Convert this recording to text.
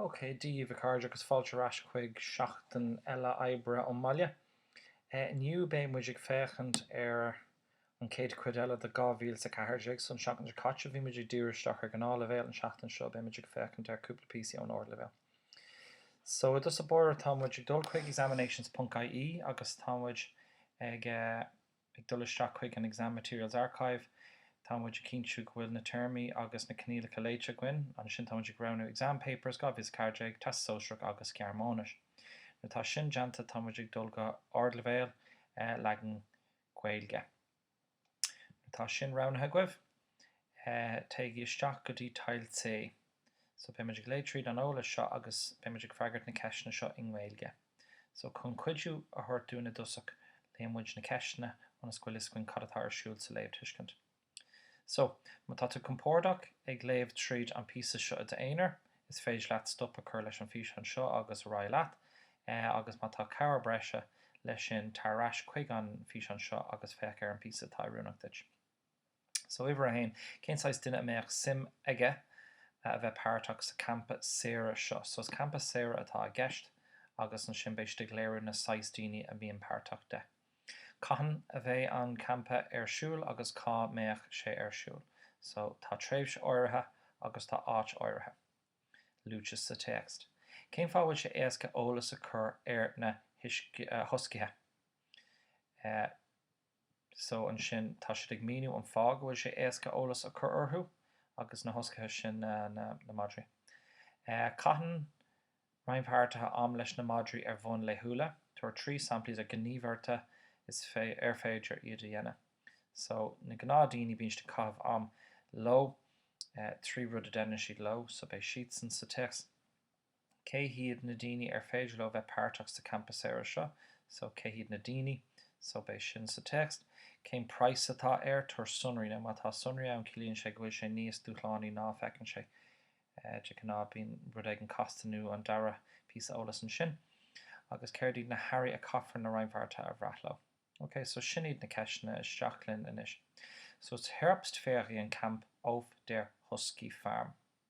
Ok, Dia daoibh, a chairde, agus fáilte ar ais chuig seachtain eile oibre ón mbaile. Inniu beidh muid ag féachaint ar an chéad chuid eile de 2014. So, an seachtain seo caite bhí muid ag díriú isteach ar ghnáthleibhéal, an tseachtain seo beidh muid ag féachaint ar cúpla píosaí ón ardleibhéal. So, i dtus báire tá muid ag dul chuig examinations.ie agus tá muid ag eh. Ag dul isteach chuig an Exam Materials Archive, tá muid ag cinntiú go bhfuil na téarmaí agus na coinníollacha léite againn. Ansin tá muid ag roghnú Exam Papers, 2014, Teastas Sóisearach agus Gearmáinis. Nuair atá sin déanta, tá muid ag dul go Ardleibhéal, Leagan Gaeilge. Nuair atá sin roghnaithe agaibh. téigí isteach go dtí Teil D. So beimid ag léamh tríd an eolas seo agus beimid ag freagairt na ceisteanna seo i nGaeilge. So chun cuidiú a thabhairt dúinn i dtosach léann muid na ceisteanna ionas go bhfuil fhios againn cad atá ar siúl sa léamhthuiscint. So má tá tú compordach ag léamh tríd an píosa seo i d'aonar, is féidir leat stop a chur leis an físeán seo agus ar aghaidh leat. Agus má tá cabhair breise leis sin, tar ar ais chuig an físeán seo agus féach ar an bpíosa atá oiriúnach duit. So uimhir a haon, cén saghas duine a mbeadh suim aige a bheith páirteach sa champa saoire seo? So is campa saoire atá i gceist agus ansin beidh siad ag léiriú na saghas daoine a mbíonn páirteach de. Cathain a bheidh an campa ar siúl agus cá mbeadh sé ar siúl? So tá tréimhse áirithe agus tá áit áirithe luaite sa téacs. Cén fáth a bhfuil sé éasca eolas a chur ar na huscaithe? Eh. so ansin tá siad ag míniú an fáth go bhfuil sé éasca eolas a cur orthu agus na huscaithe sin na na na madraí. Caitheann rannpháirtithe am leis na madraí ar bhonn laethúla. Tabhair trí samplaí de ghníomhartha is fé ar féidir iad a dhéanamh. So na gnáthdhaoine bíonn siad ag caitheamh am leo trí rud a deineann siad leo so beidh siadsan sa téacs. Cé hiad na daoine ar féidir leo bheith páirteach sa campa saoire seo? So, cé hiad na daoine? So, beidh sin sa téacs. Cén praghas atá air? Tabhair sonraí. Now, má tá sonraí ann, ciallaíonn sé go bhfuil sé níos dúshlánaí ná a feiceann sé. De ghnáth, bíonn rud éigin casta nó an dara píosa eolas ansin. Agus céard iad na hearraí a caithfear na rannpháirtithe a bhreith leo? Ok, so sin iad na ceisteanna. Isteach linn anois. So, it's Herbstferiencamp auf der Huskyfarm.